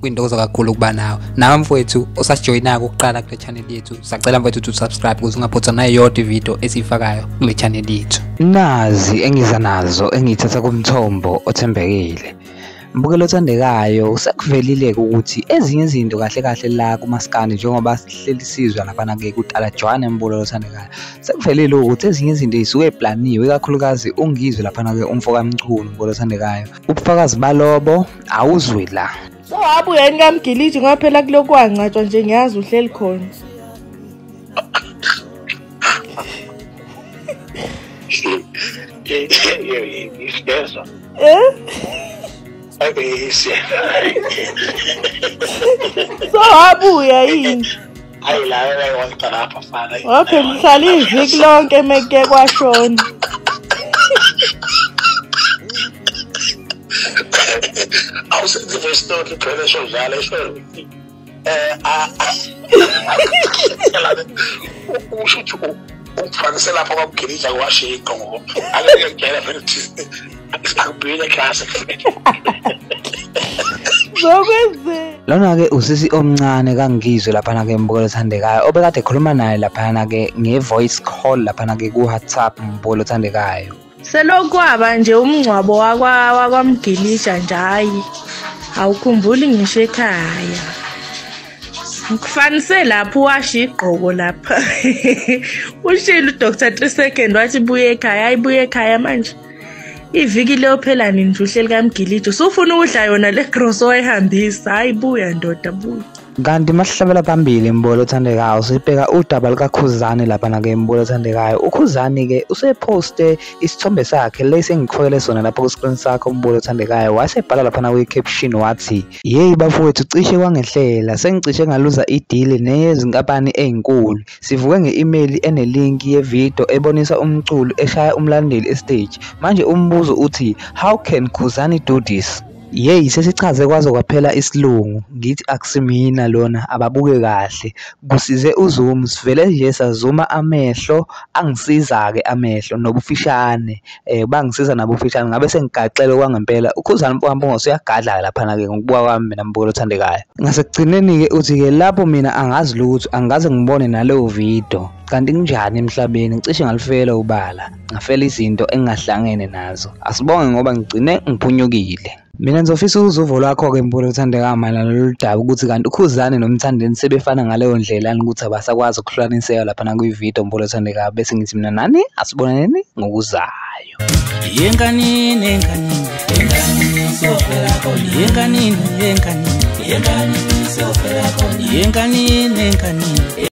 kwintokozo kakhulu ukuba nawe nawe mfowethu osasijoyinako ukuqala kule channel yethu sacela mfowethu to subscribe ukuze ungaphothwa nayo yodwa ividiyo esiyifakayo kule channel yethu nazi engiza nazo engiyithatha kumthombo othembekile mbukelo othandekayo usekuvelile-ke ukuthi ezinye izinto kahle kahle la kumaskandi njengoba sihleli sizwa laphana-ke kudala jwane mbukelo othandekayo sekuvelile ukuthi ezinye izinto zisuke eplaniwe ikakhulukazi ungizwe laphana-ke umfokamchunu mbukelo othandekayo ubufakazi balobo awuzwi la so abu yani kamgiliji ngoba phela kulokhu wangcatshwa nje ngiyazi uhleli khona isibezwa eh abeyise so abuya yini hayi la wayewayita lapha fana okay ngihlala iviki lonke meke kwashona awusenze voice note uphele esho njalo esho eh usho ukuthi ukufanise lapho kwakugilija kwashiqo ngoba angeke ngigele vele Akubuyele class. Zokwenzeka. Lona ke usisi omncane kangizwe lapha na ke mbukelo thandekayo obekade ekhuluma naye lapha na ke nge voice call lapha na ke ku WhatsApp mbukelo thandekayo. Selokwaba nje umngcwabo wakwa wakwamgilisha nje hayi. Awukhumbuli ngisho ekhaya. Ngifanise lapho washa igqoko lapha. Ushilo uDr 3 second wathi buye ekhaya, ayibuye ekhaya manje. iviki liyophela nini nje uhleli kamgilidi usufuna ukudla yona le gross owayihambisa hhayi buya ndoda buya kanti masihlabela phambili mbolo othandekayo sibheka udaba lukakhuzani lapha nake mbolo othandekayo ukhuzani-ke usephoste isithombe sakhe lesi engikufakele sona lapho kwisikrini sakho mbolo othandekayo wasebhala laphana kwi-caption wathi yeyi bafowethu cishe kwangehlela sengicishe ngaluza idili neyezinkampani ey'nkulu Sivuke nge-imeyili enelinki yevidiyo ebonisa umculi eshaya umlandeli esiteji. Manje umbuzo uthi how can Khuzani do this? Yeyi sesichaze kwaze kwaphela isilungu ngithi akusimina lona ababuke kahle kusize uzoom sivele nje sazuma amehlo angisiza-ke amehlo nobufishane eh bangisiza nabo ufishane ngabe sengigaxele kwangempela ukhuzana mfowami bongosi uyagadla laphana ke ngokubuka kwami mina mbukelo othandekayo ngasekugcineni ke uthi ke lapho mina angazi lutho angikaze ngibone naleyo video kanti kunjani emhlabeni ngicishe ngalifela ubala ngafela izinto engingahlangene nazo asibonge ngoba ngigcine ngiphunyukile Mina ngizofisa ukuzwa uvo lwakho-ke Mpule othandeka mayelana nalolu daba ukuthi kanti uKhuzani noMthandeni sebefana ngaleyo ndlela yini ukuthi abasakwazi ukuhlukaniseka lapha nakwividiyo Mpule othandeka bese ngithi mina nani asibonaneni ngokuzayo. Yenganini yenganini yenganini sofela kona yenganini yenganini yenganini sofela kona yenganini yenganini